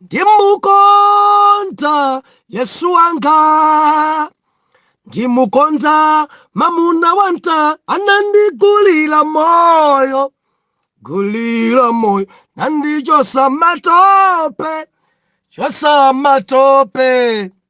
ndimukonda yesu wanga ndimukonda mamuna wanta anandigulira moyo gulira moyo nandichotsa matope chotsa matope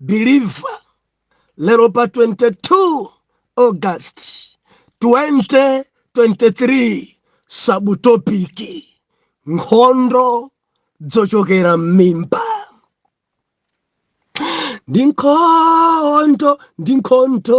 believer lero pa 22 august 2023 sabutopiki nkhondo dzochokera m'mimba ndi nkhondo ndi nkhondo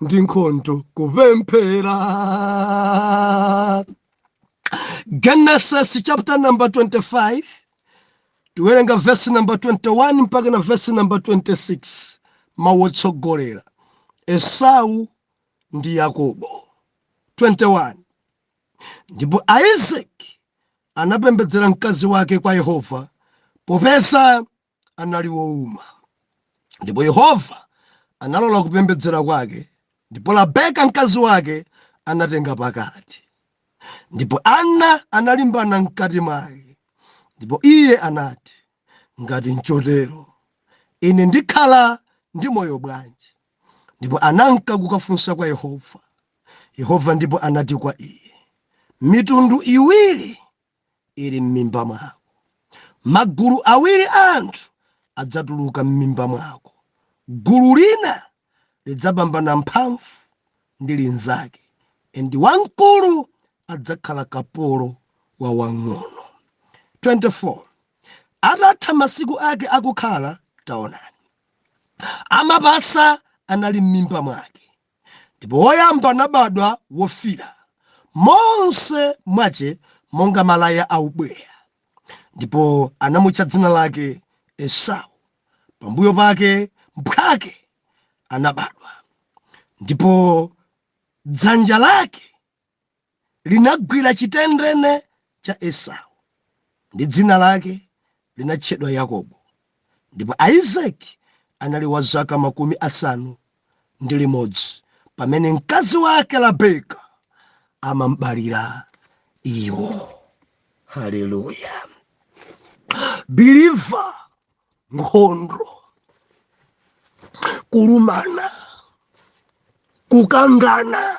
ndi nkhondo kupemphera genesis chapter number 25 tiwerenga verse number 21 mpaka na verse number 26 mawu otsogolera esau ndi yakobo 21 ndipo aisaki anapembedzera mkazi wake kwa yehova popeza anali wouma. Ndipo Yehova analola kupembedzera kwake, ndipo Rabeka mkazi wake anatenga pakati. Ndipo ana analimbana mkati mwake, ndipo iye anati, Ngati nchotero, ine ndikhala ndi moyo bwanji? Ndipo ananka kukafunsa kwa Yehova. Yehova ndipo anati kwa iye, Mitundu iwiri ili m'mimba mwako. Magulu awiri a anthu adzatuluka m'mimba mwako. Gulu lina lidzapambana mphamvu ndi linzake, and wamkulu adzakhala kapolo wa wang'ono. 24 atatha masiku ake akukhala, taonani, amapasa anali m'mimba mwake, Ndipo woyamba anabadwa wofiira, monse mwache monga malaya a ubweya, ndipo anamutcha dzina lake Esau, pambuyo pake mphwake anabadwa, ndipo dzanja lake linagwira chitendene cha Esau, ndi dzina lake linatchedwa Yakobo. Ndipo Aisaki anali wa zaka makumi asanu ndi limodzi pamene mkazi wake Rabeka anam'balira iwo. Haleluya! Biliva, nkhondo, kulumana, kukangana,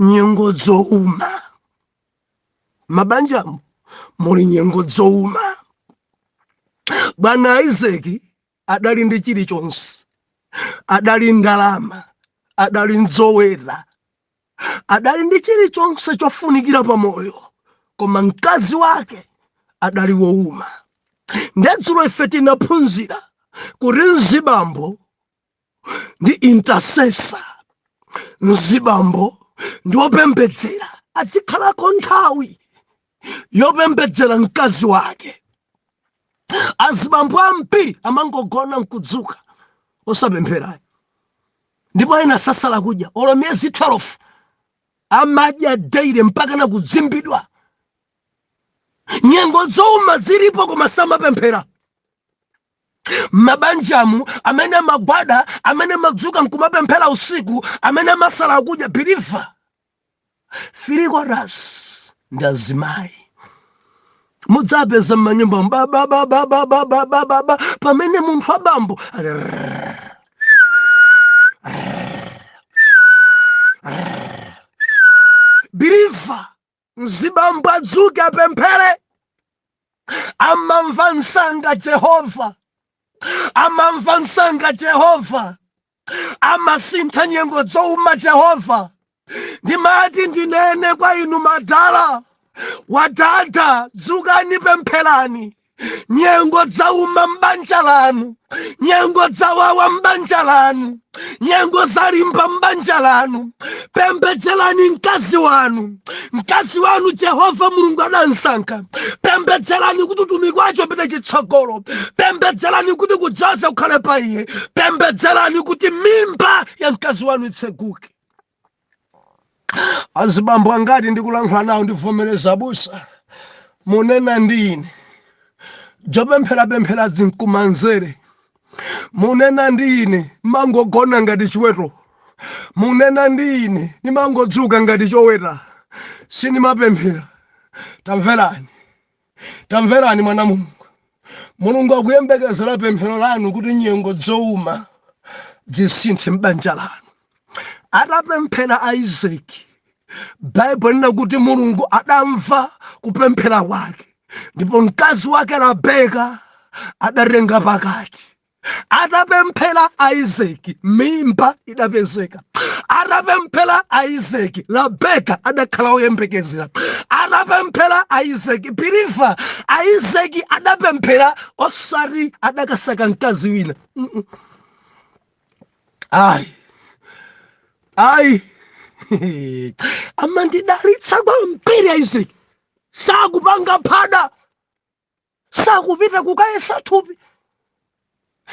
nyengo dzouma mabanjamu muli nyengo dzouma bwana isaki adali ndi chilichonse adali ndi ndalama adali ndi zoweta adali ndi chilichonse chofunikira pa moyo koma mkazi wake adali wouma ndedzulo ife tinaphunzira kuti mzibambo ndi intercessor mzibambo ndi wopembedzera adzikhalako nthawi yopembedzera mkazi wake azibambo ambiri amangogona nkudzuka osapempherayo ndipo ena sasala kudya olo miyezi 12 amadya daily mpaka na kudzimbidwa nyengo zouma zilipo koma samapemphera mmabanjamu amene amagwada amene amadzuka nkumapemphera usiku amene amasala kudya biliva three quarters ndi azimayi mudzapeza mmanyumba babababababababa pamene munthu wabambo ali rrrr, rrrr, rrrr. biliva mzibambo adzuke apemphere amamva msanga jehova amamva msanga jehova amasintha nyengo zouma jehova ndimati ndinene kwa inu madala wadada dzukani pempherani nyengo dzauma m'banja lanu nyengo dzawawa m'banja lanu nyengo zalimba m'banja lanu pembedzerani mkazi wanu mkazi wanu jehova mulungu adamsankha pembedzerani kuti utumiki wace upite chitsogolo pembedzerani kuti kudzoza kukhale pa iye pembedzerani kuti mimba ya mkazi wanu itseguke azibambo angati ndikulankhula nawo ndivomereza abusa munena ndi ine dzopempherapemphera zinkumanzere munena ndi ine ndimangogona ngati chiweto munena ndi ine ndimangodzuka ngati choweta sindimapemphera tamverani Tamverani mwana Mulungu. Mulungu akuyembekezera pemphero lanu kuti nyengo dzouma dzisinthe m'banja lanu. Atapemphera Isaki, Baibulo linena kuti Mulungu adamva kupemphera kwake ndipo mkazi wake Rabeka adatenga pakati. atapemphera Isaac mimba idapezeka atapemphera Isaac Rabeka adakhala woyembekezera atapemphera Isaac believer Isaac adapemphera osati adakasaka mkazi wina Mm, mm. ayi ayi amandidalitsa kwambiri Isaac sakupanga phada sakupita kukayesa thupi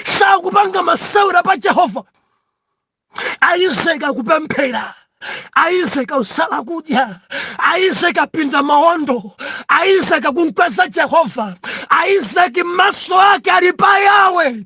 sakupanga masewera pa jehova Isaac akupemphera Isaac akusala kudya Isaac apinda mawondo Isaac akumkweza jehova Isaac maso ake ali pa yawe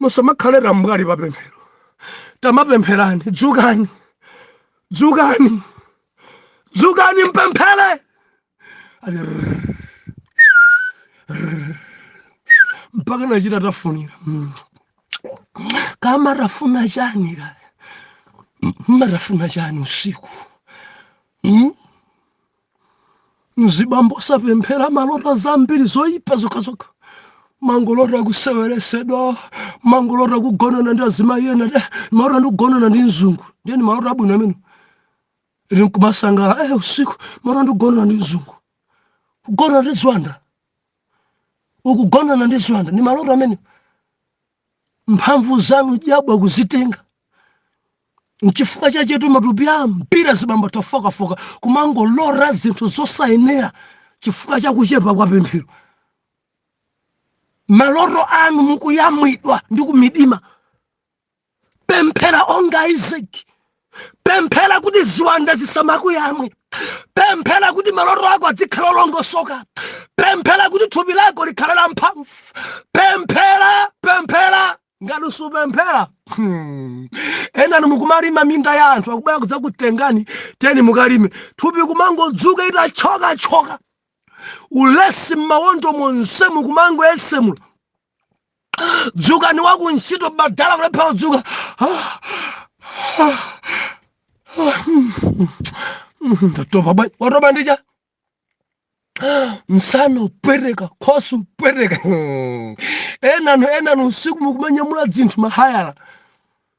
musamakhale tambwali pa pemphero tamapempherani dzukani dzukani dzukani mpemphere ali rrrr, rrrr, mpaka nachita tafunira mm. kama tafuna chani kale mmatafuna chani usiku mm? mzibambo osapemphera mumalota zambiri zoyipa zokhazokha mumangolota kuseweretsedwa mumangolota kugonana ndi azimayi ena nde ndimalota ndikugonana ndi mzungu ndiye ni maloto abwino amenewo ili nkumasangala eh usiku ndimalota ndikugonana ndi mzungu kugonana ndi ziwanda ukugonana ndi ziwanda ni maloto amene mphamvu zanu zabwa kuzitenga nchifukwa chachetu matupi ambiri azibambo atafookafooka kumangolota zinthu zosayenera chifukwa cha kuchepa kwa pemphero maloto anu mukuyamwidwa ndi kumidima pemphera onga Isaac pemphera kuti ziwanda zisamakuyamwe pemphera kuti maloto ako adzikhale olongosoka pemphera kuti thupi lako likhale la mphamvu pemphera pemphera ngati usupemphera hmm. enanu mukumalima minda ya anthu akubwera kudzakutengani teni mukalime thupi kumangodzuka itachokachoka ulesi mmawondo monsemu kumangoyesemula dzukani wa ku ntchito badala kulephera kudzuka ndatopa bwanji watopa ndi chani msana upweteka khosi upweteka enanu enanu usiku mukumanyamula dzinthu mahayala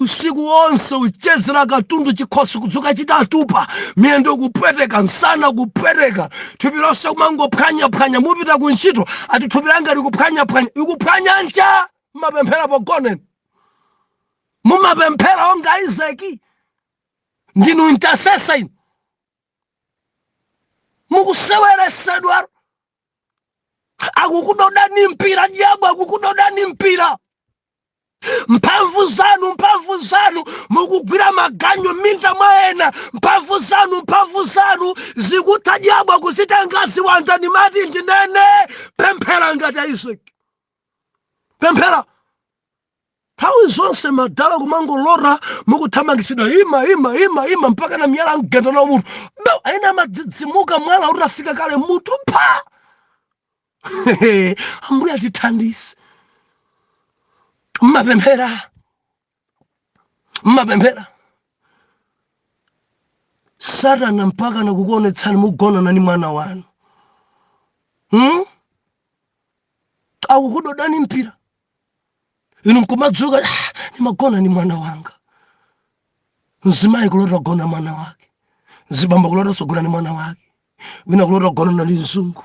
usiku wonse uchezera katundu chikhosi kudzuka chitatupa miyendo kupweteka nsana kupweteka thupi lonse kumangophwanyaphwanya mupita ku ntchito ati thupi langa likuphwanyaphwanya likuphwanya ncha mumapemphera pogoneni mumapemphera monga isaki ndinu intercessor inu mukuseweresedwa akukudodani mpira diabo akukudodani mpira mphamvu zanu mphamvu zanu mukugwira maganyu m'minda mwa ena mphamvu zanu mphamvu zanu zikutha dyabo akuzitenga ziwanda ndimati ndinene pemphera ngati aisaki pemphera nthawi zonse madala kumangolora mukuthamangitsidwa ima ima ima ima mpaka na miyala mgenda na mutu do ena amadzidzimuka mwala utafika kale mutu pha ambuye atithandize mmapemphera mmapemphera satana mpaka na kukuonetsani mugonana ni mwana wanu hmm? akukudodani mpira inu nkumadzuka "Ah, nimagona ni mwana wanga mzimayi kulota gona mwana wake mzibambo kulota sogona ni mwana wake wina kulota gonana ni mzungu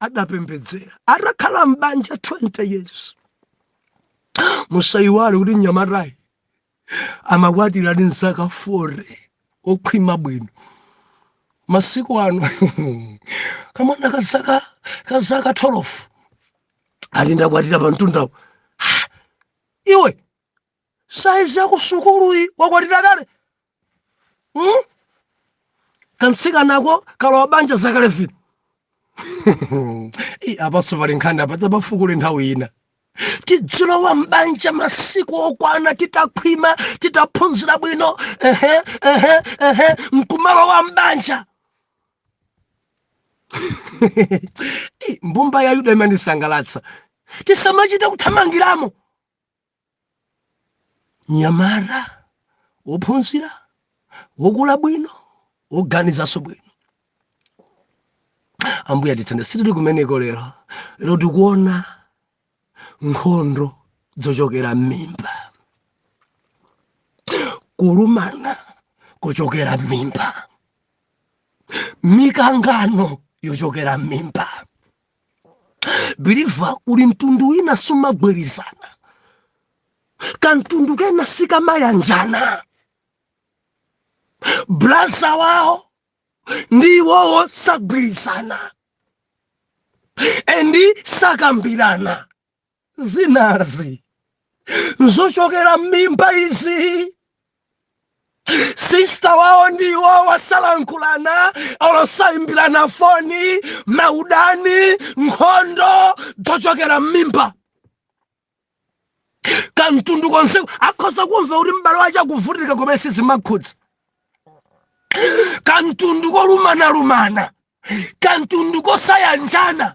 adapembedzera atakhala m'banja 20 years musayiwale kuti mnyamatayi amakwatira ndi zaka 40 okhwima bwino masiku ano kamwana kazaka kazaka 12 ati ndakwatira pa mtundawo iwe saizi yakusukuluyi wakwatira kale hmm? kamtsikanako kalowa banja zaka 11 apanso pali nkhani apa tidzapafukule nthawi ina tidzilowa m'banja masiku okwana titakhwima titaphunzira bwino ehe ehe ehe nkumalowa m'banja mbumba ya yuda imandisangalatsa tisamachite kuthamangiramo nyamata wophunzira wokula bwino woganizanso bwino ambuye atithandize sitili kumeneko lero lero tikuona nkhondo zochokera m'mimba kulumana kochokera m'mimba mikangano yochokera m'mimba biliva uli mtundu wina sumagwirizana kamtundu kena sikamayanjana blaza wawo ndi iwowo sagwirizana endi sakambirana zinazi zochokera m'mimba izi sista wawo ndiwo wasalankhulana olosayimbirana foni maudani nkhondo zochokera m'mimba kamtundu konse akhoza kumva kuti m'bale wace akuvutika koma sizimakhudza kamtundu kolumana-lumana kamtundu kosayanjana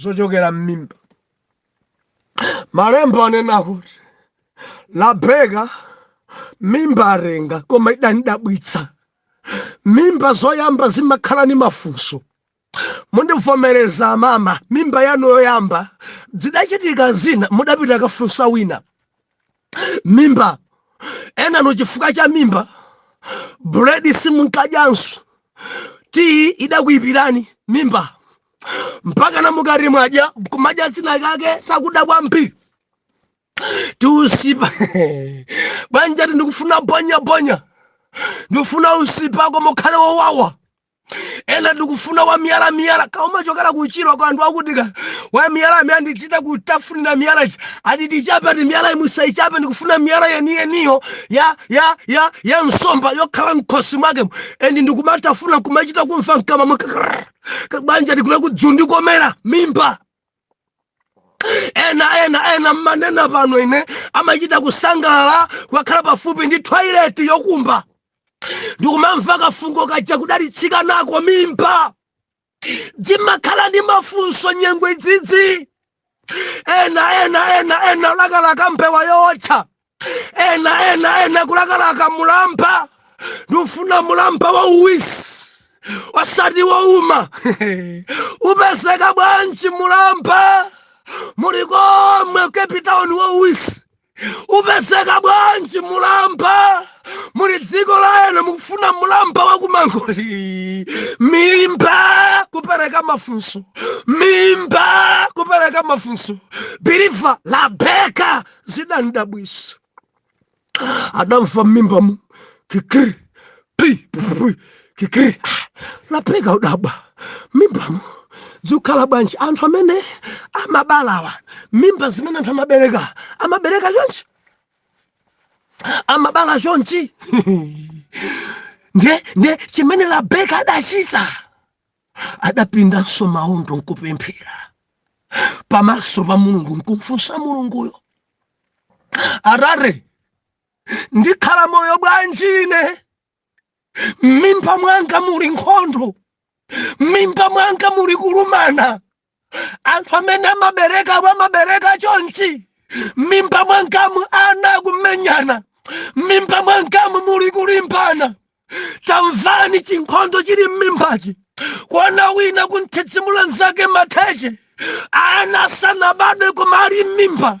zochokera m'mimba malembo anena kuti labeka mimba atenga koma idam'dabwitsa mimba zoyamba zimakhala ni mafunso mundivomereza mama mimba yanu yoyamba zidachitika zina mudapita kafunsa wina mimba enanu chifukwa cha mimba buledi simunkadyanso tiyi idakuipirani mimba mpaka namukati mwadya kumadya zinakake takuda kwambiri tiusipa bwanji ati ndikufuna bonya bonya ndikufuna usipa koma ukhale wowawa ena ndikufuna wa miyala miyala kouma chokera ku Chirwa kwa anthu akutika wa miyala amene andichita kutafunira miyala ichi ati tichape ndi miyala musaichape ndikufuna miyala yeniyeniyo ya ya ya ya nsomba yokhala mkhosi mwake ndi ndikumatafuna kumachita kumva mkamwa mwake Krrr. bwanji ndikule kudzandikomera mimba ena ena ena mmanena pano ine amachita kusangalala kukakhala pafupi ndi twaileti yokumba ndikumamva kafungo kaja kudalitsidwa nako mimba zimakhala ndi mafunso nyengo izizi ena ena ena ena lakalaka mbewa yootcha ena ena ena kulakalaka mulamba ndifuna mulamba wauwisi osati wouma upezeka bwanji mulamba muli komwe cape town wauwisi upezeka bwanji mulamba muli dziko la eni mukufuna mulamba wa ku mangochi mimba kupereka mafunso mimba kupereka mafunso biliva labeka zidam'dabwitsa adamva mmimbamu kikiri pi pi kikiri ah, labeka adadabwa mmimbamu zikukhala bwanji anthu amene amabalawa mimba zimene anthu amabereka amabereka chonchi amabala chonchi nde nde chimene labeka adachita adapindanso maondo nkupemphera pamaso pa mulungu nkumfunsa mulunguyo arare ndikhala moyo bwanji ine m'mimba mwanga muli nkhondo m'mimba mwanga muli kulumana anthu amene amabereka amabereka chonchi mmimba mwangamu ana akumenyana mmimba mwangamu muli kulimbana tamvani chinkhondo chili mmimbachi kuona wina kumthidzimula nzake mateche ana sanabadwe koma ali mmimba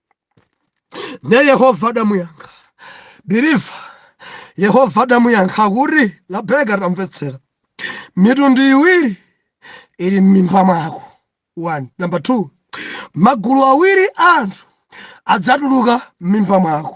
ne yehova adamuyankha believer yehova adamuyankha kuti labeka tamvetsera mitundu iwiri ili m'mimba mwako one number two magulu awiri a anthu adzatuluka m'mimba mwako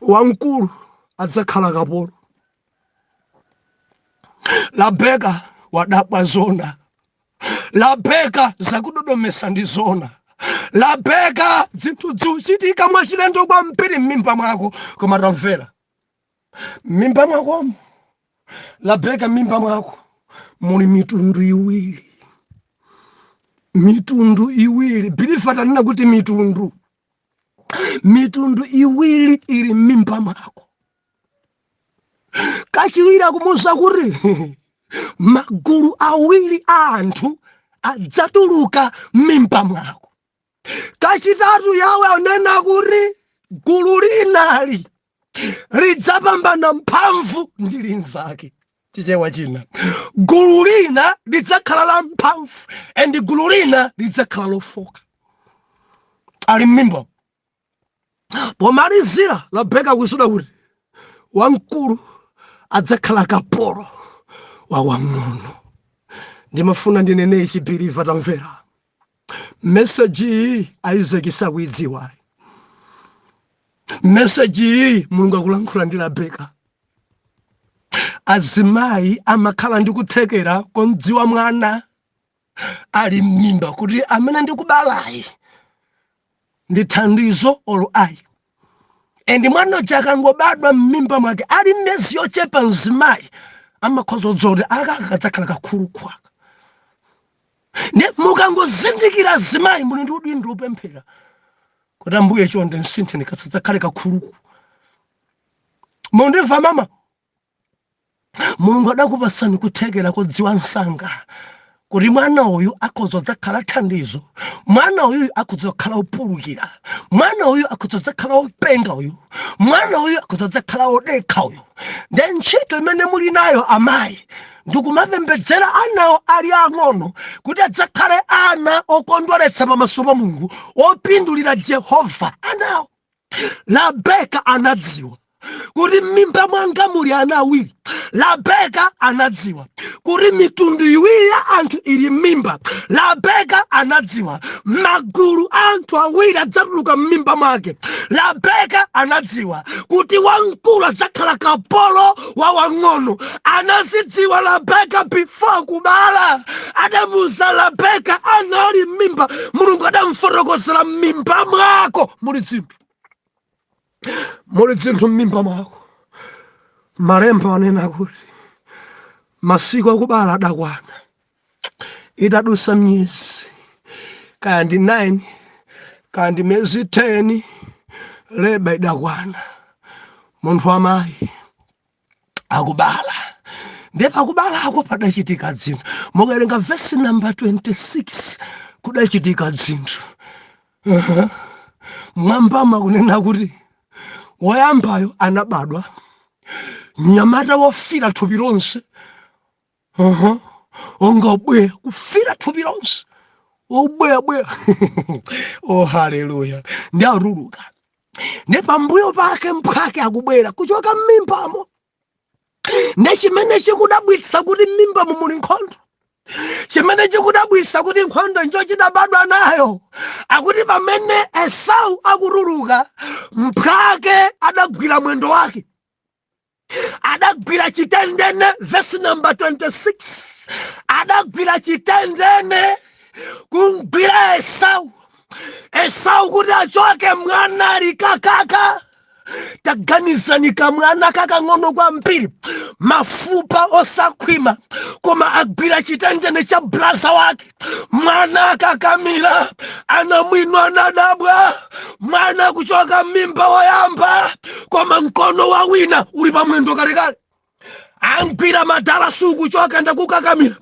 wamkulu adzakhala kapolo labeka wadabwa zona labeka zakudodomesa ndi zona labeka zinthu zikuchitika mwachilendo kwambiri m'mimba mwako koma tamvera m'mimba mwakomo labeka m'mimba mwako muli mitundu iwiri mitundu iwiri believer tanena kuti mitundu mitundu iwiri iri m'mimba mwako kachiwiri akumuuza kuti magulu awiri a anthu adzatuluka m'mimba mwako kachitatu yawe anena kuti gulu lina li lidzapambana mphamvu ndi linzake chichewa china gulu lina lidzakhala la mphamvu and gulu lina lidzakhala lofoka ali mmimba pomalizira labeka akuuzidwa kuti wamkulu adzakhala kapolo wa wang'ono ndimafuna ndinene ichi believer tamvera message iyi Isaac sakuyidziwa message iyi mulungu akulankhula ndi rabeka azimayi amakhala ndi kuthekera komdziwa mwana ali m'mimba kuti amene ndikubalayi ndi thandizo olo ayi and mwana uja akangobadwa m'mimba mwake ali miyezi yochepa mzimayi amakhoza kudziwa kuti aka kadzakhala kakhuluku aka nde mukangozindikira azimayi muli ndi udindo wopemphera kuti ambuye chonde msintheni kasadzakhale kakhuluku mundimva mama mulungu adakupasani kuthekera kodziwa msanga kuti mwana uyu akhoza kudzakhala thandizo mwana uyu akhoza kukhala opulukira mwana uyu akhoza kudzakhala openga uyu mwana uyu akhoza kudzakhala odekha uyu nde ntchito imene muli nayo amayi ndikumapembedzera anawo ali ang'ono kuti adzakhale ana okondweretsa pamaso pa mulungu opindulira jehova anawo Rabeka anadziwa kuti m'mimba mwanga muli ana awiri labeka anadziwa kuti mitundu iwiri ya anthu ili m'mimba labeka anadziwa magulu a anthu awiri adzatuluka m'mimba mwake labeka anadziwa kuti wamkulu adzakhala kapolo wa wang'ono anazidziwa labeka before kubala adamuuza labeka anali mmimba mulungu adamfotokozera mmimba mwako muli dzinthu muli dzinthu mmimba mwako malemba anena kuti masiku akubala adakwana itadusa miyezi kaya ndi 9 kaya ndi miyezi 10 leba idakwana munthu amayi akubala ndiye pakubalako padachitika dzinthu mukawerenga vesi namba 26 kudachitika dzinthu uh-huh. mwambama kunena kuti woyambayo anabadwa mnyamata wofira thupi lonse Aha, onga ubweya kufira thupi lonse ubweyabweya oh haleluya ndi atuluka ne pambuyo pake mphwake akubwera kuchoka m'mimbamo ne chimene chikudabwitsa kuti m'mimbamo muli nkhondo chimene chikudabwitsa kuti nkhondo njo chidabadwa nayo akuti pamene esau akutuluka mphwake adagwira mwendo wake adagwira chitendene vesi namba 26 adagwira chitendene kumgwira esau esau kuti achoke mwana ali kakaka taganizani kamwana kakang'ono kwambiri mafupa osakhwima koma agwira chitendene cha braza wake Mwana akakamira anamwino anadabwa, mwana kuchoka m'mimba woyamba, koma mkono wa wina uli pa mwendo kalekale amgwira madala sukuchoka ndakukakamira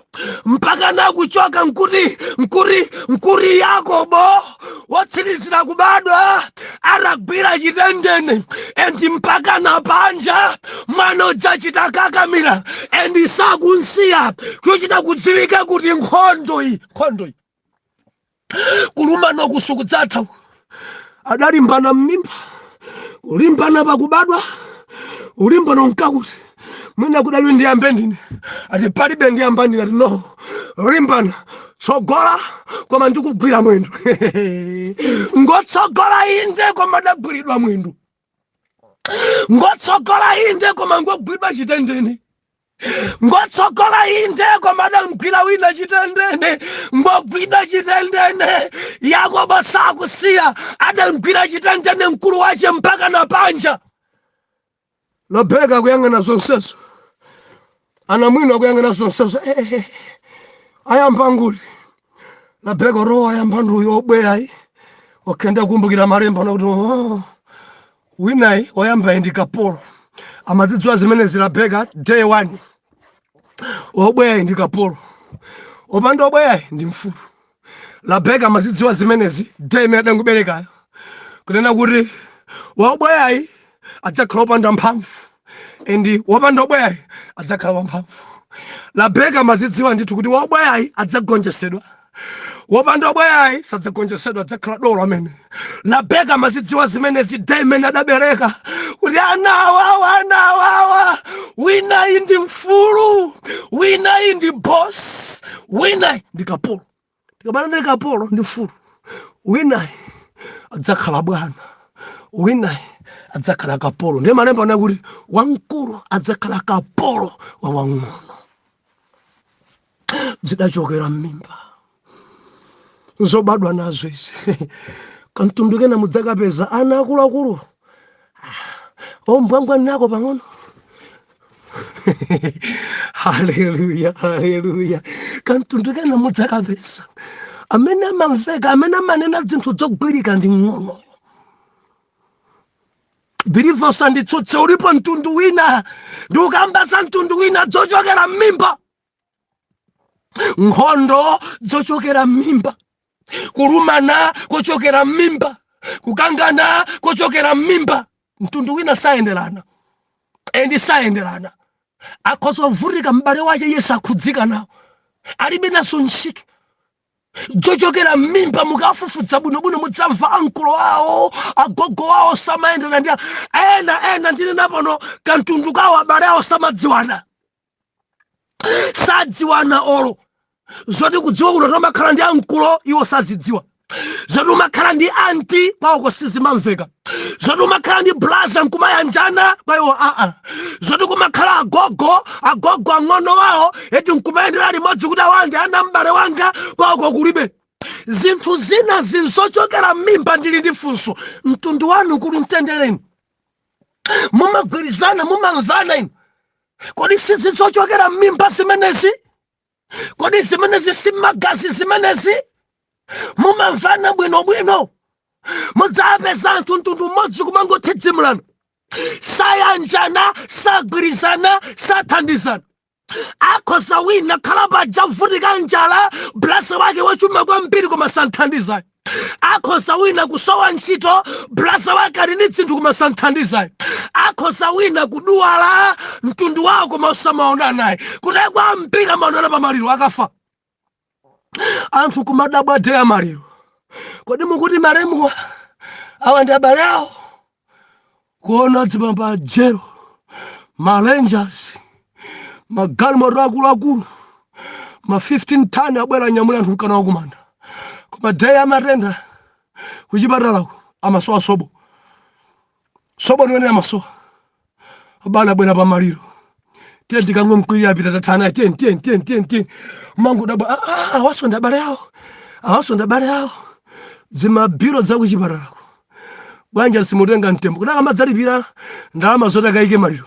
mpaka nakuchoka nkuri nkuri nkuri yakobo wotsirizira kubadwa atagwira chitendene endi mpaka na panja mwana uja chitakakamira endi sakunsiya chochita kudziwika kuti nkhondo iyi nkhondo iyi kulumana kusu kudzatha adalimbana m'mimba kulimbana pakubadwa ulimbana nkakuti mwina kudali ndiyambe ndine ati palibe ndiyamba ndine ati no limbana tsogola koma ndikugwira mwendo ngotsogola inde koma adagwiridwa mwendo ngotsogola inde koma ngogwiridwa chitendene ngotsogola inde koma adamgwira wina chitendene ngogwiridwa chitendene yakobo sakusiya adamgwira chitendene mkulu wache mpaka na panja Rabeka akuyang'ana zonsezo, anamwino akuyang'ana zonsezo, eh, eh, eh. ayamba nguti Rabeka oro ayamba ndi uyo obweyayi okay ndakumbukira malemba anakuti oh, winayi oyambayi ndi kapolo amazidziwa zimenezi Rabeka day one obweyayi ndi kapolo opanda obweyayi ndi mfulu Rabeka amazidziwa zimenezi day imene adangoberekayo kunena kuti waubweyayi adzakhala wopanda mphamvu and wopanda ubweyayi adzakhala wamphamvu Rabeka amazidziwa ndithu kuti waubweyayi adzagonjesedwa wopanda ubweyayi sadzagonjesedwa adzakhala dolo amen Rabeka amazidziwa zimenezi day imene adabereka kuti ana awawa ana awawa winayi ndi mfulu winayi ndi boss winayi ndi kapolo ndikabana ndi kapolo ndi mfulu winayi adzakhala bwana winayi adzakhala kapolo ndiye malemba anakuti wamkulu adzakhala kapolo wa wang'ono zidachokera m'mimba nzobadwa nazo izi kamtundu kena mudzakapeza ana akuluakulu ombwambwanako pang'ono haleluya haleluya kamtundu kena mudzakapeza amene amamveka amene amanena zinthu zogwirika ndi mng'ono believer usanditsutse ulipo mtundu wina ndikukamba za mtundu wina dzochokera m'mimba nkhondo zochokera m'mimba kulumana kochokera m'mimba kukangana kochokera m'mimba mtundu wina sayenderana endi sayenderana akhoza kuvutika m'bale wace iye sakhudzika nawo alibe nazo ntchito zochokera m'mimba mukafufuza bwinobwino mudzamva ankolo awo agogo awo samayenderana ndi a- ena ena ndinena pano kamtundu kawo abale awo samadziwana sadziwana olo zoti kudziwa kuti umakhala ndi ankolo iwo sazidziwa zoti umakhala ndi anti kwawoko sizimamveka zoti umakhala ndi blaza nkumayanjana kwa iwo aa zoti kumakhala agogo agogo ang'ono wawo eti nkumayendera limodzi kuti awa ndi ana a m'bale wanga kwawoko kulibe zinthu zinazi nzochokera m'mimba ndili ndi funso mtundu wanu kuli mtendereni mumagwirizana mumamvana inu kodi sizi zochokera m'mimba zimenezi kodi zimenezi si magazi zimenezi mumamvana bwinobwino mudzapeza anthu mtundu umodzi kumangothidzimulana sayanjana sagwirizana sathandizana akhoza wina khala paja kuvutika njala blasa wake wachuma kwambiri koma santhandizayi akhoza wina kusowa ntchito blasa wake ali ndi dzinthu koma santhandizayi akhoza wina kuduwala mtundu wawo koma osamaonanayi kunaye kwambiri amaonana pa maliro akafa anthu kumadabwa day ya maliro kodi mukuti malemuwa awa ndi abale awo kuona dzipamba jero ma rangers magalimoto akuluakulu ma 15 tani abwera anyamula anthu nka nawo kumanda koma day ya matenda kuchipatalaku amasowa sobo sobo niwenera amasowa abale abwera pa maliro tiye tikangomkwirira apita tathana tiye tiye tiye tiye tiye mangodabwa ah, ah, awaso ndi abale awo awaso ndi abale awo dzimabilu dzakuchipatalako bwanja simutenga mtembo kuti akamadzalipira ndalama zoti akayike maliro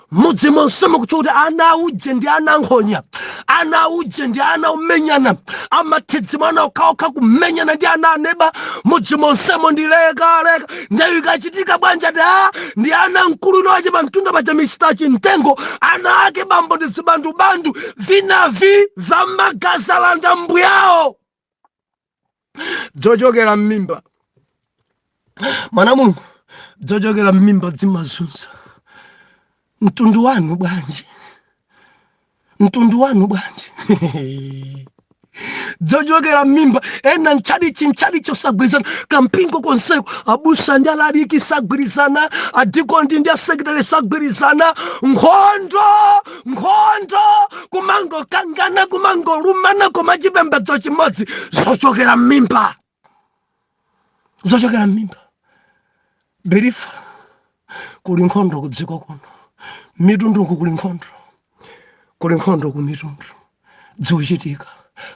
mudzi monsemo kuti kuti ana auje ndi ana ankhonya ana auje ndi ana omenyana amathidzimulana okhaokha kumenyana ndi ana aneba mudzi monsemo ndi lekaleka ndewu ikachitika bwanja da ndi ana mkulu inowache pa mtunda paja misita chimtengo ana ake bambo ndi zibandubandu vinavi vamagazi alanda mbuyawo dzochokera m'mimba mwana mulungu dzochokera m'mimba zimazunza mtundu wanu bwanji mtundu wanu bwanji dzochokera m'mimba ena m'tchalitchi m'tchalitchi osagwirizana kampingo konseko abusa ndi alaliki sagwirizana adikoni ndi asekitale sagwirizana nkhondo nkhondo kumangokangana kumangolumana koma chipembedzo chimodzi zochokera mmimba zochokera mmimba believer kuli nkhondo ku dziko kuno mitunduku kuli nkhondo kuli nkhondo ku mitundu dziuchitika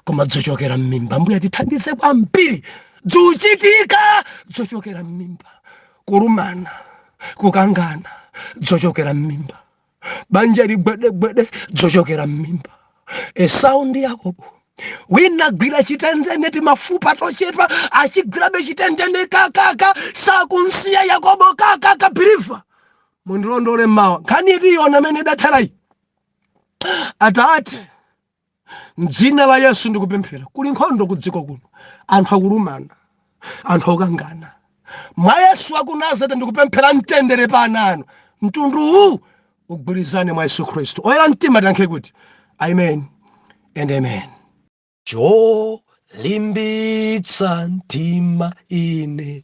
koma dzochokera mmimba mbuye tithandize kwambiri dzuchitika dzochokera mmimba kulumana kukangana dzochokera mmimba banja ligwedegwede dzochokera m'mimba esau ndi yakobo wina gwira chitendene timafupa tochepa achigwirabe chitendene kakaka sakumsiya yakobo kakaka believer mundilondole mawa nkhani tiyiona mmene idatherayi atate mdzina la yesu ndikupemphera kuli nkhondo ku dziko kuno anthu akulumana anthu akukangana mwa yesu wa ku nazareti ndikupemphera mtendere pa ana anu mtundu uwu ugwirizane mwa yesu khristu oyera mtima tiyankhe kuti amen and amen cholimbitsa mtima ine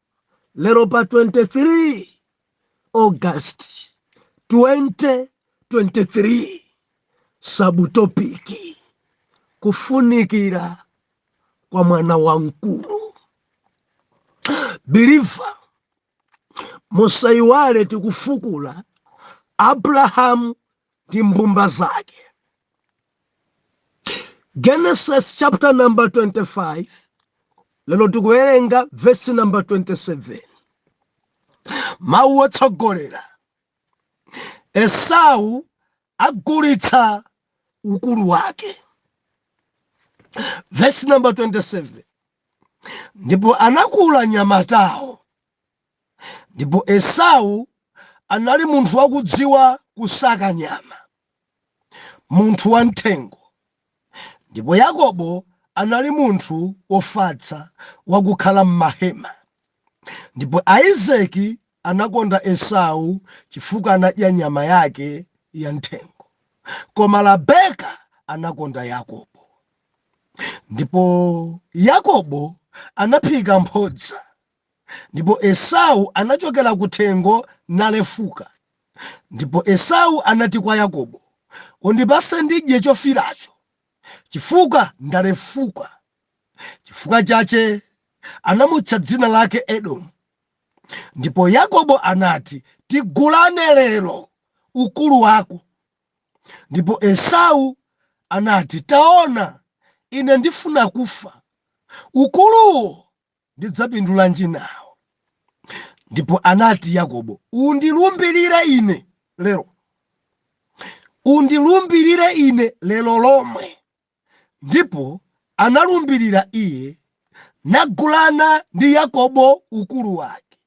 lero pa 23 august 2023 subtopic kufunikira kwa mwana wamkulu biliva musayiwale tikufukula abrahamu ndi mbumba zake Genesis chapter number 25 lero tikuwerenga vesi namba 27 mawu otsogolera esau agulitsa ukulu wake vesi namba 27 ndipo anakula anyamatawo ndipo esau anali munthu wakudziwa kusaka nyama munthu wamthengo. Ndipo Yakobo anali munthu wofatsa wakukhala m'mahema. Ndipo Aizeki anakonda Esau chifukwa anadya nyama yake ya m'thengo. Koma Rabeka anakonda Yakobo. Ndipo Yakobo anaphika mphodza Ndipo Esau anachokera kuthengo nalefuka. Ndipo Esau anati kwa Yakobo, Undipatse ndidye chofiiracho, chifukwa ndalefuka. Chifukwa chache anamutcha dzina lake Edomu. Ndipo Yakobo anati, Tigulane lero ukulu wako. Ndipo Esau anati, Taona, ine ndifuna kufa. Ukuluwo ndidzapindulanji nao? Ndipo anati Yakobo, Undilumbirire ine lero, undilumbirire ine lero lomwe. Ndipo analumbirira iye, nagulana ndi Yakobo ukulu wake.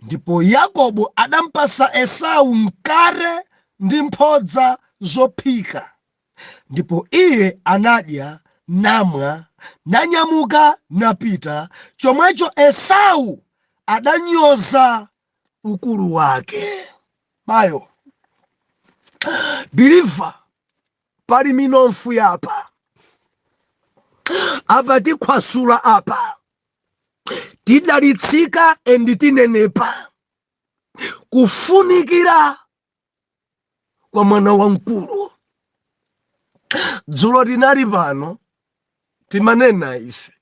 Ndipo Yakobo adampasa Esau mkate ndi mphodza zophika. Ndipo iye anadya, namwa, nanyamuka napita, chomwecho Esau adanyoza ukulu wake. Mayo. Believer, pali minomfu yapa. Apa tikhwasula apa. Tidalitsika and tinenepa. Kufunikira kwa mwana wamkulu dzulo tinali pano timanena ife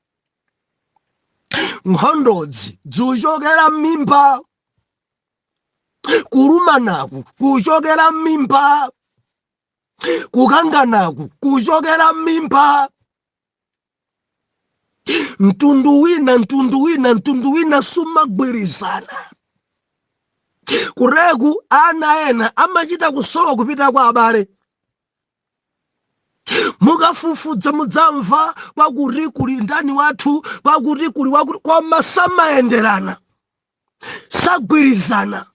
nkhondozi zikuchokera m'mimba kulumanaku kuchokera m'mimba kukanganaku kuchokera m'mimba mtundu wina mtundu wina mtundu wina sumagwirizana kuleka ana ena amachita kusowa kupita kwa abale mukafufuza mudzamva pakuti kuli ndani wathu pakuti kuli wakuti koma samayenderana sagwirizana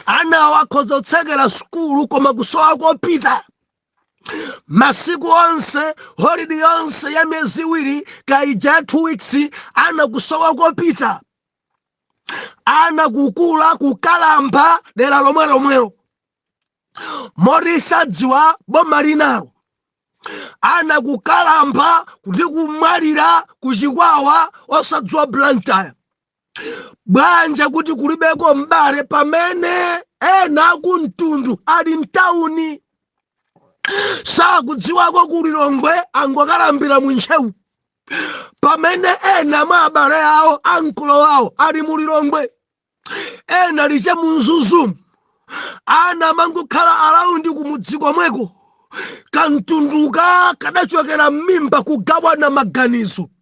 anawo akhoza kutsekera sukulu koma kusowa kopita masiku onse holidi yonse ya miyezi iwiri kaya ya 2 weeks ana kusowa kopita ana kukula kukalamba dera lomwelomwelo moti sadziwa boma linalo ana kukalamba ndi kumwalira ku chikwawa osadziwa blantyre poganiza kuti kulibeko m'bale pamene ena akumtundu ali mtawuni sakudziwako ku lilongwe angokalambira mu ntcheu pamene ena mwa abale awo ankolo awo ali mu lilongwe ena lice mu mzuzumu ana amangokhala araundi kumudzi komweko kamtunduka kadachokera m'mimba kugawana maganizo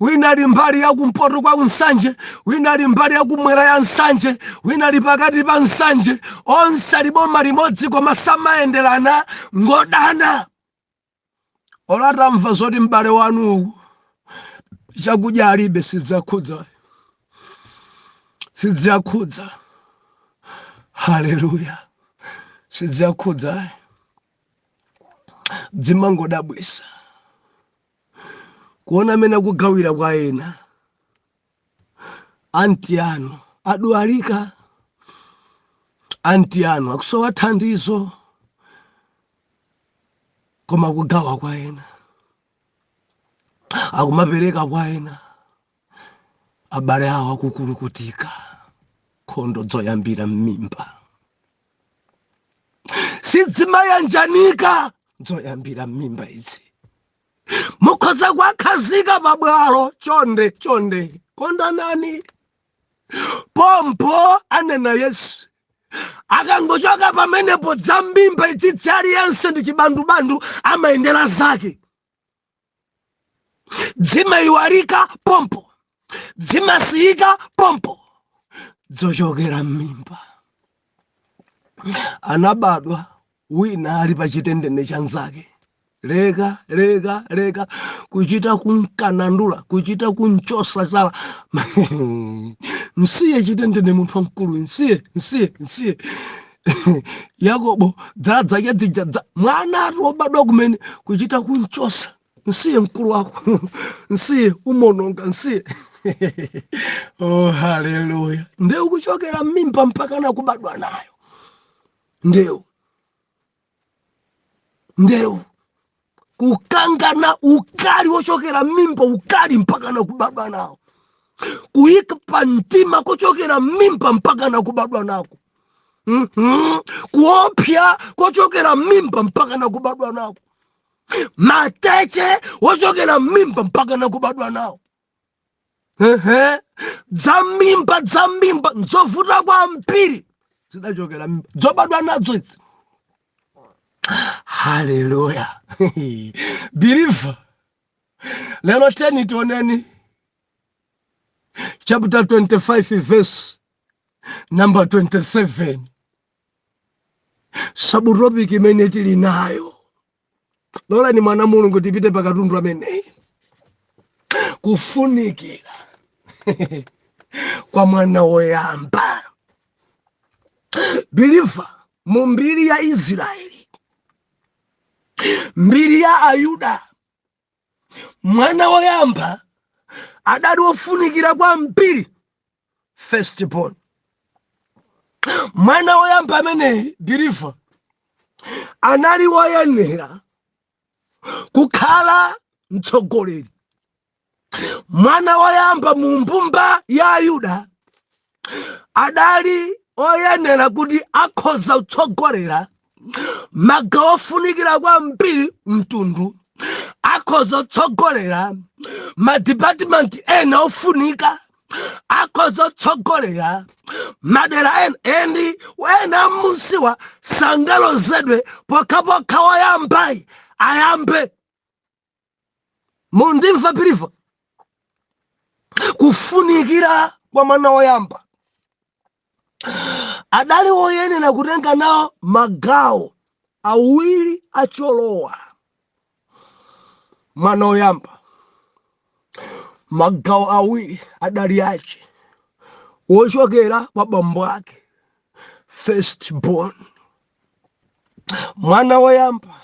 wina ali mbali ya kumpoto kwa nsanje wina ali mbali ya kummwera ya nsanje wina ali pakati pa nsanje onse ali boma limodzi koma samayenderana ngodana olo atamva zoti m'bale wanu uku chakudya alibe sidziwakhudza ayi sidziwakhudza haleluya sidziwakhudza ayi dzimangodabwisa kuona amene akugawira kwa ena anti anu adwalika anti anu akusowa thandizo koma kugawa kwa ena akumapereka kwa ena abale awo akukulukutika nkhondo zoyambira m'mimba sizimayanjanika zoyambira m'mimba izi mukhoza kuwakhazika pabwalo chonde chonde kondanani pompo anena yesu akangochoka pamenepo dza m'mimba idzidzi aliyense ndi chibandubandu amayendera zake dzimayiwalika pompo dzimasiyika pompo dzochokera m'mimba anabadwa wina ali pa chitendene cha nzake leka leka leka kuchita kumkanandula kuchita kumchosa zala msiye chitendene munthu wamkulu msiye msiye msiye yakobo dzala dzake dzija dza mwana ati wobadwa kumene kuchita kumchosa msiye mkulu wako msiye umononga msiye oh haleluya ndeu kuchokera mmimba mpaka na kubadwa nayo ndeu ndewu kukangana ukali wochokera mmimba ukali mpaka na kubadwa nawo kuyika pa mtima kochokera mmimba mpaka na kubadwa nako mm -hmm. kuopya kochokera mmimba mpaka na kubadwa nako mateche wochokera mmimba mpaka na kubadwa nawo ehe dzammimba dzammimba nzovuta kwambiri zidachokera mmimba dzobadwa nadzo idzi haleluya believer lero tiyeni tioneni chapter 25 verse number 27 sabutopiki imene tili nayo lolani mwana mulungu tipite pa katundu ameneyi kufunikira kwa mwana woyamba believer mu mbiri ya israeli mbiri ya ayuda mwana woyamba adali wofunikira kwambiri first born mwana woyamba ameneyi believer anali woyenera kukhala mtsogoleri mwana woyamba mu mbumba ya ayuda adali oyenera kuti akhoza kutsogolera magawo ofunikira kwambiri mtundu akhoza kutsogolera madipatimenti ena ofunika akhoza kutsogolera madera ena ndi ena musiwa sangalozedwe pokhapokha woyambayi ayambe mundimva believer kufunikira kwa mwana woyamba adali woyenera kutenga nawo magawo awiri acholowa mwana woyamba magawo awiri adali ache wochokera kwa bambo ake first born mwana woyamba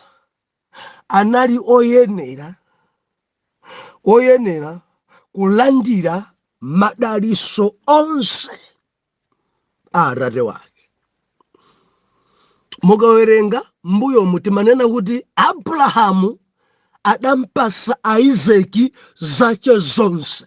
anali oyenera oyenera kulandira madaliso onse a atate wake mukawerenga mbuyomu timanena kuti abrahamu adampasa aisaki zache zonse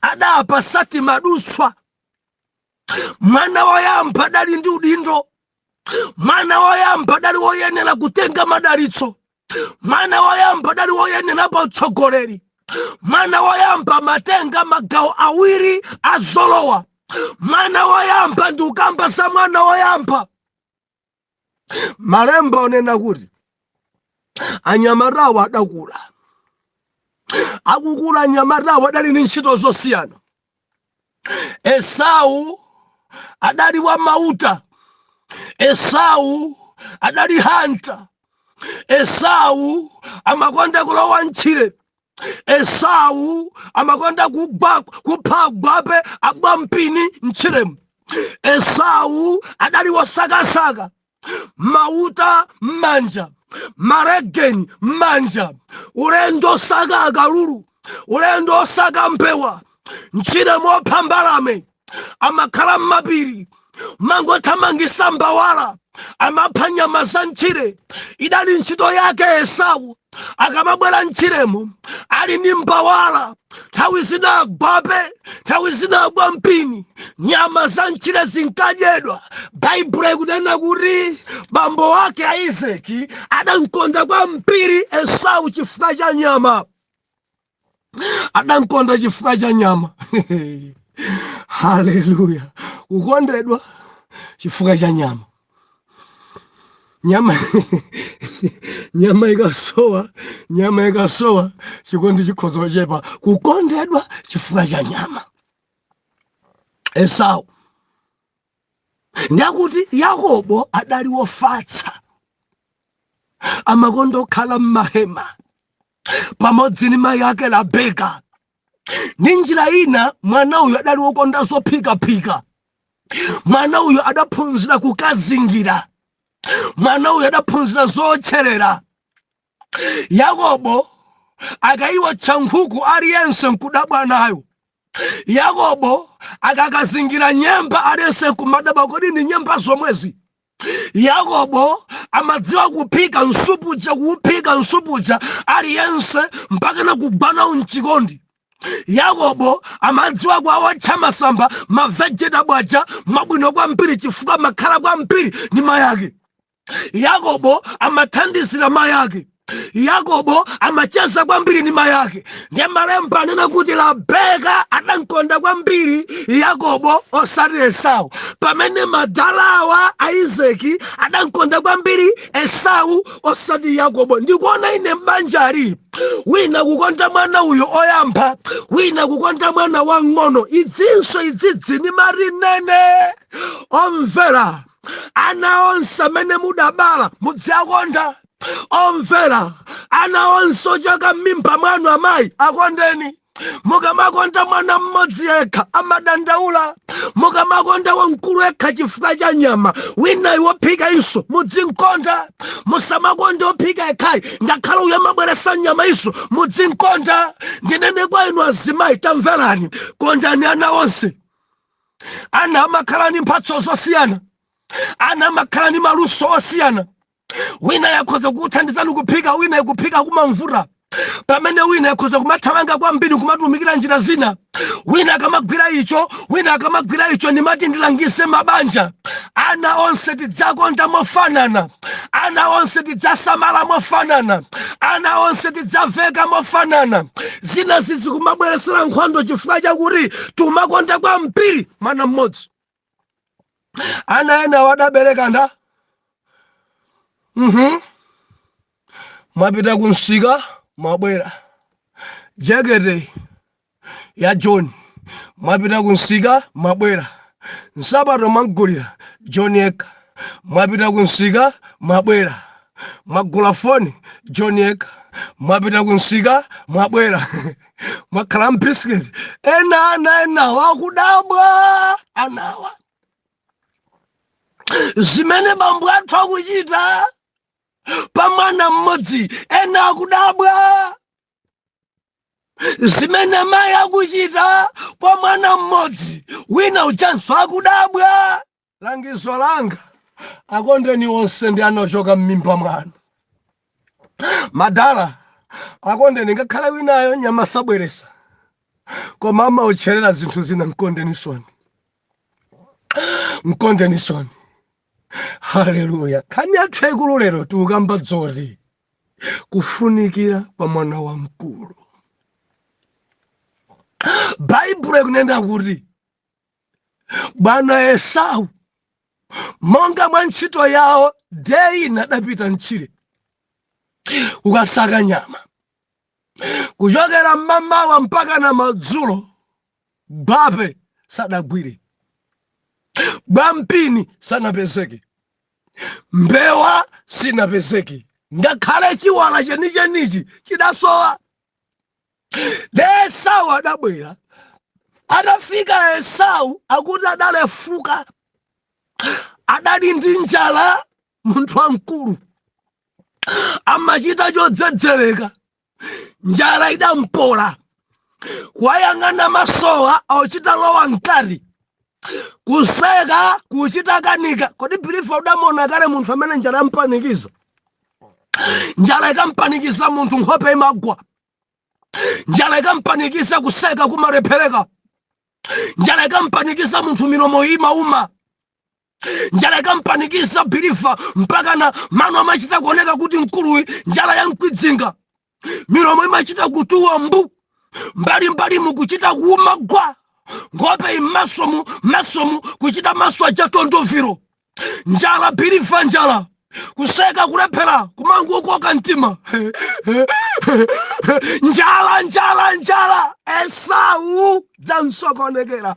adapasa timadutswa mwana woyamba adali ndi udindo mwana woyamba adali woyenera kutenga madalitso mwana woyamba adali woyenera pa utsogoleri mwana woyamba amatenga magawo awiri a zolowa mwana woyamba ndikukamba za mwana woyamba malemba akunena kuti anyamatawo adakula akukula anyamatawo adali ndi ntchito zosiyana esau adali wa mauta esau adali hanta esau amakonda kulowa m'tchire esau amakonda kugwa kupha agwape agwa mpini mtchiremu esau adali wosakasaka mauta m'manja malegeni m'manja ulendo osaka akalulu ulendo osaka mbewa mtchiremu opha mbalame amakhala m'mapiri amangothamangitsa mbawala amapha nyama za mtchire idali ntchito yake esau akamabwera mtchiremo ali ndi mbawala nthawi zina agwape nthawi zina agwa mpini nyama za mtchire zinkadyedwa baibulo ikunena kuti bambo wake a Isaki adamkonda kwambiri esau chifukwa cha nyama adankonda chifukwa cha nyama haleluya kukondedwa chifukwa cha nyama nyama nyama ikasowa nyama ikasowa chikondi chikhoza kuchepa kukondedwa chifukwa cha nyama esau ndiye akuti yakobo adali wofatsa amakonda kukhala m'mahema pamodzi ndi mayi ake Rabeka ndi njira ina mwana uyu adali wokonda zophikaphika mwana uyu adaphunzira kukazingira mwana uyu adaphunzira zootcherera yakobo akayiwotcha nkhuku aliyense nkudabwa nayo Yakobo akakazingira nyemba aliyense nkumadabwa kodi ndi nyemba zomwezi. Yakobo amadziwa kuphika nsupu uja kuuphika nsupu uja aliyense mpaka kugwa nawo m'chikondi. Yakobo amadziwa kuwawotcha masamba mavegetable aja mwabwino kwambiri chifukwa amakhala kwambiri ndi mayake. yakobo amathandizira mayi ake yakobo amacheza kwambiri ndi mayi ake ndiye malemba anena kuti rebeka adamkonda kwambiri yakobo osati esau pamene madalawa a izaki adamkonda kwambiri esau osati yakobo ndikuona ine m'banjali wina kukonda mwana uyo oyamba wina kukonda mwana wang'ono idzinso idzidzi ndi mati ndinene omvera ana onse amene mudabala mudziakonda omvera ana onse ochoka m'mimba mwanu amayi akondeni mukamakonda mwana mmodzi yekha amadandaula mukamakonda wamkulu yekha chifukwa cha nyama winayi wophika iso mudzinkonda musamakonda wophika yekhayi ngakhale uyo amabweresa nyama iso mudzinkonda ndinene kwa inu azimayi tamverani kondani ana onse ana amakhala ndi mphatso zosiyana ana amakhala ndi maluso osiyana wina yakhoza kukuthandizani kuphika wina ikuphika kumamvuta pamene wina yakhoza kumathamanga kwambiri nkumatumikira njira zina wina akamagwira icho wina akamagwira icho ndimati ndilangize mabanja ana onse tidzakonda mofanana ana onse tidzasamala mofanana ana onse tidzaveka mofanana zina zizikumabweresera nkhondo chifukwa chakuti tumakonda kwambiri mwana mmodzi ana ena wadabereka nda mhm mwapita kumsika mwabwera jekete ya john mwapita kumsika mwabwera nsapato mwamgulira john yekha mwapita kumsika mwabwera mwagula foni john yekha mwapita kumsika mwabwera mwagula bisiketi ena ana enawa akudabwa anawa zimene bambo athu akuchita pa mwana mmodzi ena akudabwa zimene mayi akuchita pa mwana mmodzi wina ujanso akudabwa langizo langa akondeni onse ndi ana ochoka m'mimba mwanu madala akondeni ngakhale winayo nyama sabweresa koma amaotcherera zinthu zina mkondenisoni mkondenisoni haleluya nkhani yathu yaikulu lero tikukamba dzoti kufunikira kwa mwana wamkulu baibulo ikunena kuti bwana esau monga mwa ntchito yawo deyi ina adapita mtchire kukasaka nyama kuchokera mmamawa mpaka na madzulo bape sadagwire bwampini sanapezeke mbewa sinapezeke ngakhale chiwala chenichenichi chidasowa esau adabwera atafika esau akuti adalefuka adali ndi njala munthu wamkulu amachita chodzedzereka njala idampola kuwayang'ana masowa auchita lowa mkati kuseka kuchita kanika kodi biliva udamuona kale munthu amene njala yampanikiza njala ikampanikiza munthu nkhope imagwa njala ikampanikiza kuseka kumalephereka njala ikampanikiza munthu milomo imauma njala ikampanikiza biliva mpakana mano amachita kuoneka kuti mkuluyu njala yamkwidzinga milomo imachita kutuwa mbu mbalimbalimu kuchita kuuma gwa nkhope mmasomu mmasomu kuchita maso aja tondoviro njala biliva njala kuseka kulephera kumangokoka mtima njala njala njala esau dzamsokonekera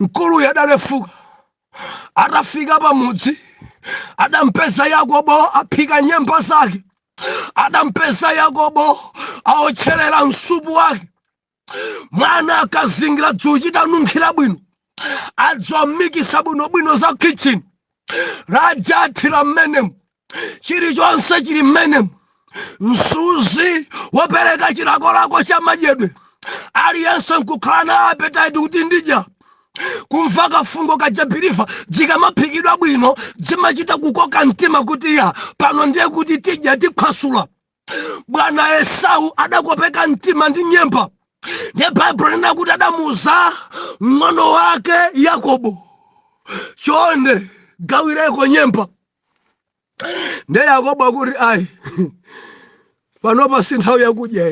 mkuluyu adalefuka atafika pamudzi adampeza yakobo aphika nyemba zake adampeza yakobo aotcherera msupu wake mwana akazingira dzuchita nunkhira bwino adzomikisa bwinobwino za kitchen Rajah athira mmenemu chilichonse chili mmenemu msuzi wopereka chilakolako cha madyedwe aliyense nkukhala na appetite kuti ndidya kumva kafungo kaja biliva dzikamaphikidwa bwino dzimachita kukoka mtima kuti ya pano ndiye kuti tidya tikhwasula bwana esau adakopeka mtima ndi nyemba ndiye baibulo linena kuti adamuuza mng'ono wake yakobo chonde gawireko nyemba ndiye yakobo akuti ayi panopa si nthawi yakudya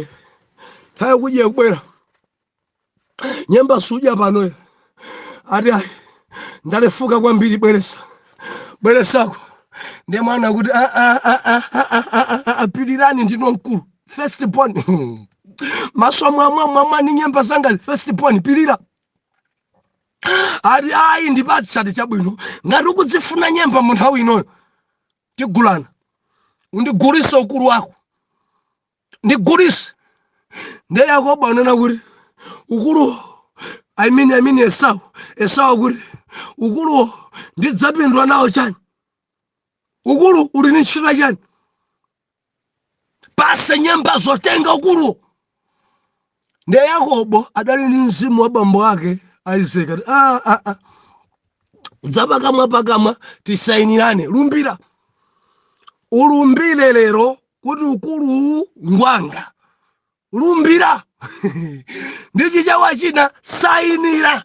nthawi yakudya ikubwera nyemba sudya pano ati ayi ndalefuka kwambiri bweresa bweresako ndiye mwana kuti ah pilirani ndino mkulu first born maso mwamwa mwamwa ni nyemba zanga first born pilira ati ayi ndipatse ati chabwino ngati ukudzifuna nyemba mu nthawi inoyo tigulana undigulise ukulu wako ndigulise nde yakobo anena kuti ukuluwo i mean i mean esau esau akuti ukuluwo ndidzapindula nawo chani ukulu uli ni ntchito chani pase nyemba zotenga ukuluwo ndiye yakobo adali ndi mzimu wa bambo ake isaac ati "Ah, ah, ah. zapakamwa pakamwa tisayinirane lumbira ulumbire lero kuti ukuluwu ngwanga lumbira ndi chichawa china sayinira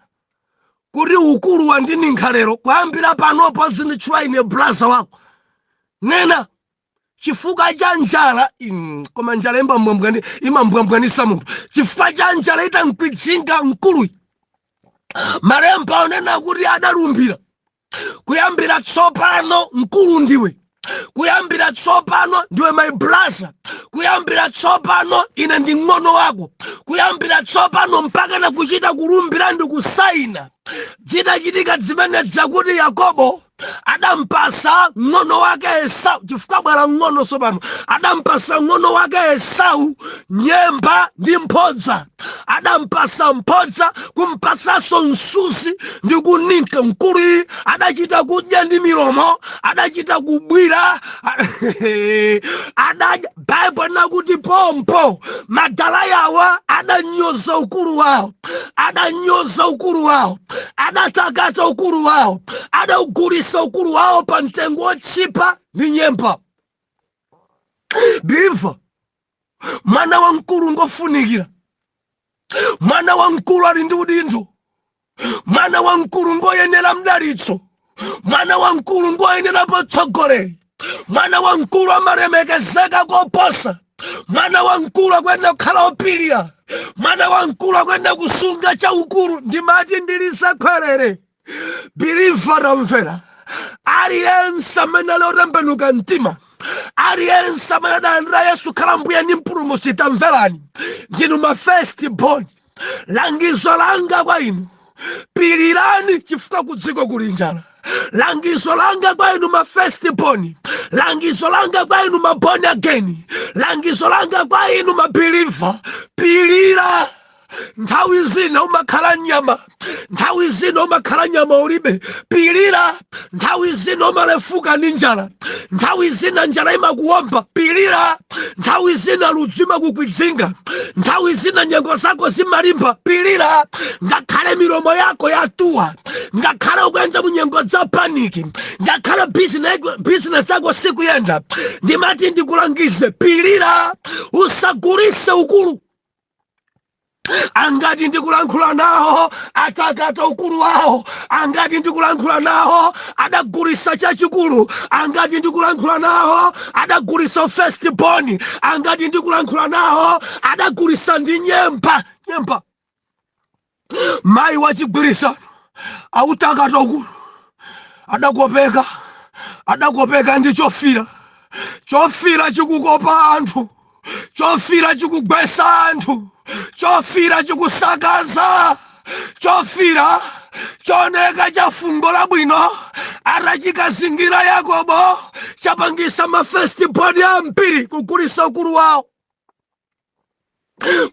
kuti ukulu wandininkha lero kuyambira panopa uzinditchula ine blaza wako nena chifukwa cha njala mm, koma njala ima- imambwambwanisa munthu chifukwa cha njala itamkwidzinga mkuluyi malemba akunena kuti adalumbira kuyambira tsopano mkulu ndiwe kuyambira tsopano ndiwe my blaza kuyambira tsopano ine ndi ng'ono wako kuyambira tsopano mpaka na kuchita kulumbira ndi kusaina zitachitika zimene zakuti yakobo adampasa ng'ono wake esau chifukwa bwa ng'ono sopano adampasa ng'ono wake esau nyemba ndi mphodza adampasa mphodza kumpasanso msuzi ndi kuninka mkuluyi adachita kudya ndi milomo adachita kubwira adadya baibulo linakuti pompo madala yawa adanyoza ukulu wawo adanyoza ukulu wawo adatakata ukulu wawo adaugulisa ukulu wawo pa mtengo wotchipa ndi nyemba biliva mwana wamkulu ngofunikira mwana wamkulu ali ndi udindo mwana wamkulu ngoyenera mdalitso mwana wamkulu ngoyenera potsogoleri mwana wamkulu amalemekezeka koposa mwana wamkulu akuyenera kukhala opilira mwana wamkulu akuyenera kusunga chaukulu ndimati ndilisakhwerere biliva tamvera aliyense amene ali wotembenuka mtima aliyense amene adalandira yesu khala mbuye ndi mpulumusi tamverani ndinu ma first born langizo langa kwa inu pilirani chifukwa kudziko kuli njala langizo langa kwa inu ma first born langizo langa kwa inu ma born again langizo langa kwa inu ma believer pilira nthawi zina umakhala ndi nyama nthawi zina umakhala nyama ulibe pilira nthawi zina umalefuka ndi njala nthawi zina njala imakuwomba pilira nthawi zina ludzu imakukwidzinga nthawi zina nyengo zako zimalimba pilira ngakhale milomo yako yatuwa ngakhale ukuyenda mu nyengo za paniki ngakhale business yako sikuyenda ndimati ndikulangize pilira usagulise ukulu angati ndikulankhula nawo atakata ukulu wawo angati ndikulankhula nawo adagulisa chachikulu angati ndikulankhula nawo adagulisa ufirst born angati ndikulankhula nawo adagulisa ndi nyemba nyemba mayi wachigwirizano wautakata ukulu adakopeka adakopeka ndi chofira chofira chikukopa anthu chofira chikugwesa anthu chofira chikusakaza chofira choneka cha fungo labwino atachikazingira yakobo chapangisa mafestibodi ambiri kugulisa ukulu wawo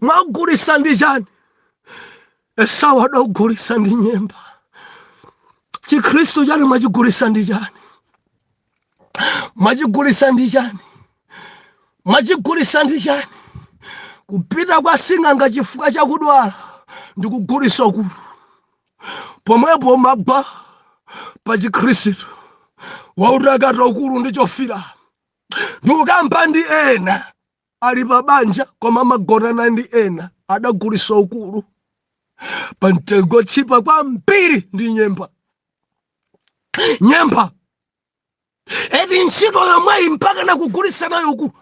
mwagulisa ndi chani esau adagulisa ndi nyemba chikhristu chani mwachigulisa ndi chani mwachigulisa ndi chani mwachigulisa ndi chani kupita kwa sing'anga chifukwa chakudwala ndi kugulisa ukulu pomwepo mwagwa pa chikhristu wautakata ukulu ndi chofira ndikukamba ndi ena ali pa banja koma amagonana ndi ena adagulisa ukulu pa mtengo wotchipa kwambiri ndi nyemba nyempha eti ntchito yomweyi mpaka nakugulisa nayo uku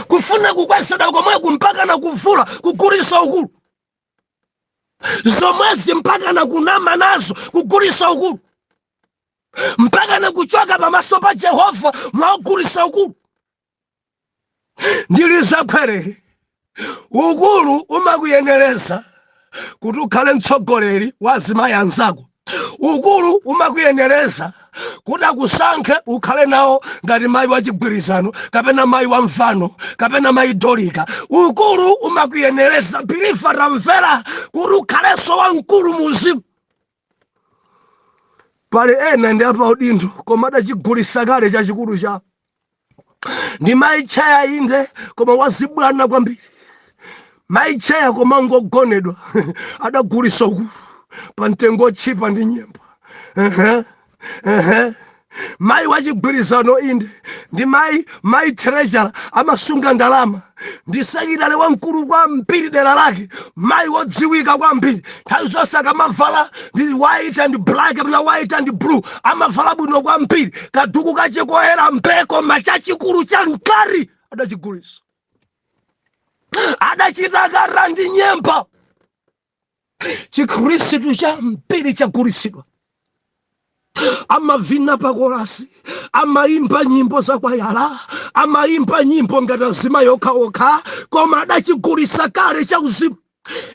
kufuna kukweseda komweku mpaka nakuvula kugulisa ukulu zomwezi mpaka nakunama nazo kugulisa ukulu mpaka nakuchoka pamaso pa jehova mwaugulisa ukulu ndi zakhwerere ukulu umakuyenereza kuti ukhale mtsogoleri wa azimayi anzako ukulu umakuyenereza kuti akusankhe ukhale nawo ngati mayi wa chigwirizano kapena mayi wa mvano kapena mayi Dolika ukulu umakuyenereza biliva tamvera kuti ukhalenso wamkulu muzimu pali ena ndi apaudindo koma adachigulisa kale chachikulu chawo ndi mayi tcheya inde koma wazibwana kwambiri mayi tcheya koma ngogonedwa adagulisa ukulu pa mtengo wotchipa ndi nyemba Ehe. ehe mayi wachigwirizano inde ndi mayi mayi treasurer amasunga ndalama ndi sekilitale wamkulu kwambiri dera lake mayi wodziwika kwambiri nthawi zonse akamavala ndi white and black kapena white and blue amavala bwino kwambiri kaduku kache koyera mbee koma chachikulu cha mkati adachigulisa adachitakata ndi nyemba chikhristu chambiri chagulitsidwa amavina pakolasi amaimba nyimbo zakwaya amaimba nyimbo ngati azimayi okhaokha koma adachigulisa kale cha uzimu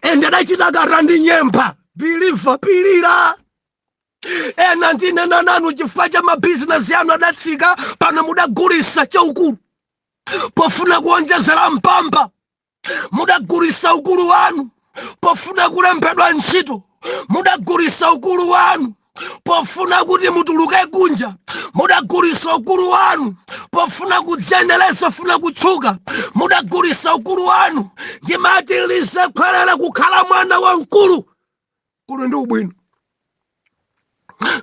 ende adachitakata ndi nyemba biliva pilira ena ndinena nanu chifukwa cha mabizinesi anu adatsika pano mudagulisa chaukulu pofuna kuonjezera mpamba mudagulisa ukulu wanu pofuna kulembedwa ntchito mudagulisa ukulu wanu pofuna kuti mutuluke kunja mudagulisa ukulu wanu pofuna kudziyenelesa funa kutchuka mudagulisa ukulu wanu ndimatilize khwerera kukhala mwana wa mkulu ukulu ndi wabwino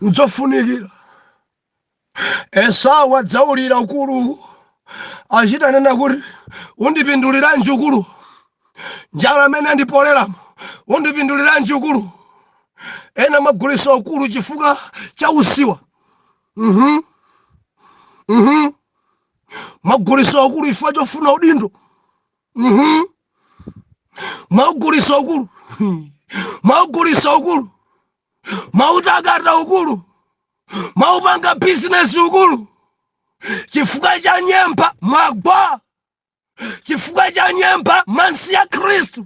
nzofunikira Esau adazaulira ukulu achita kunena kuti undipinduliranji ukulu njala mmene yandipoleramu undipinduliranji ukulu ena mwagulisa ukulu chifukwa cha usiwa mhm mhm mwagulisa ukulu chifukwa chofuna udindo Mhm. Maugulisa ukulu. Maugulisa ukulu. Mautakata ukulu. Maupanga business ukulu. Chifukwa cha nyemba mwagwa. Chifukwa cha nyemba mansi ya Khristu.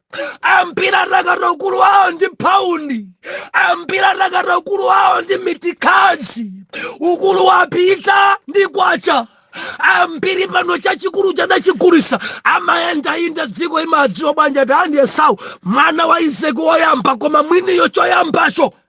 ambiri atakata ukulu wawo ndi paundi ambiri atakata ukulu wawo ndi mitikazi ukulu wapita ndi kwacha ambiri pano chachikulucho adachigulisa amayendayenda dziko limadziwa bwanja tandi esau mwana wa isaki woyamba koma mwiniyo choyambacho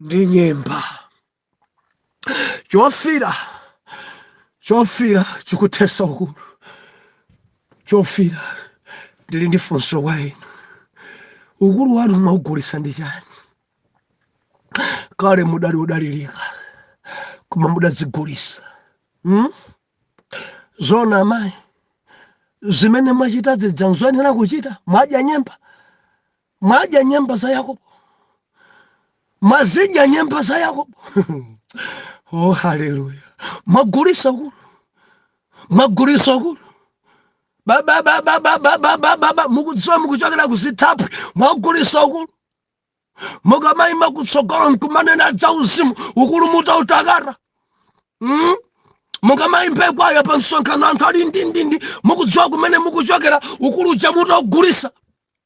ndi nyemba chofira chofira chikuthetsa ukulu chofira ndili ndi funso kwa inu ukulu wanu mwaugulisa ndi chani kale mudali odalilika koma mudadzigulisa hmm? zoona amayi zimene mwachita zija nzoyenera kuchita mwadya nyemba mwadya nyemba za Yakobo, mwazidya nyemba za Yakobo. oh, haleluya! Mwagulisa ukulu, mwagulisa ukulu baba baba baba baba baba mukudziwa mukuchokera kuzithaphwi mwagulisa ukulu mukamayima kutsogolo nkumanena za uzimu ukulu mutautakata mm? mukamayimba kwaya pa msonkhano anthu ali ndindindi mukudziwa kumene mukuchokera ukulu uja mutaugulisa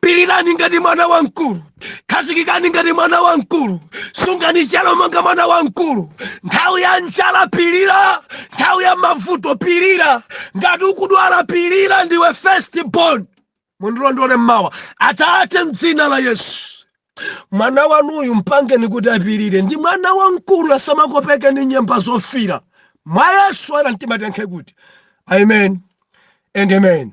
pilirani ngati mwana wamkulu khazikikani ngati mwana wamkulu sungani chiyero monga mwana wamkulu nthawi ya njala pilira nthawi ya mavuto pilira ngati ukudwala pilira ndiwe first born mundilondole mmawa atate mdzina la yesu mwana wanuyu mpangeni kuti apirire ndi mwana wamkulu asamakopeke ndi nyemba zofira mwa yesu ana mtima tiyankhe kuti amen and amen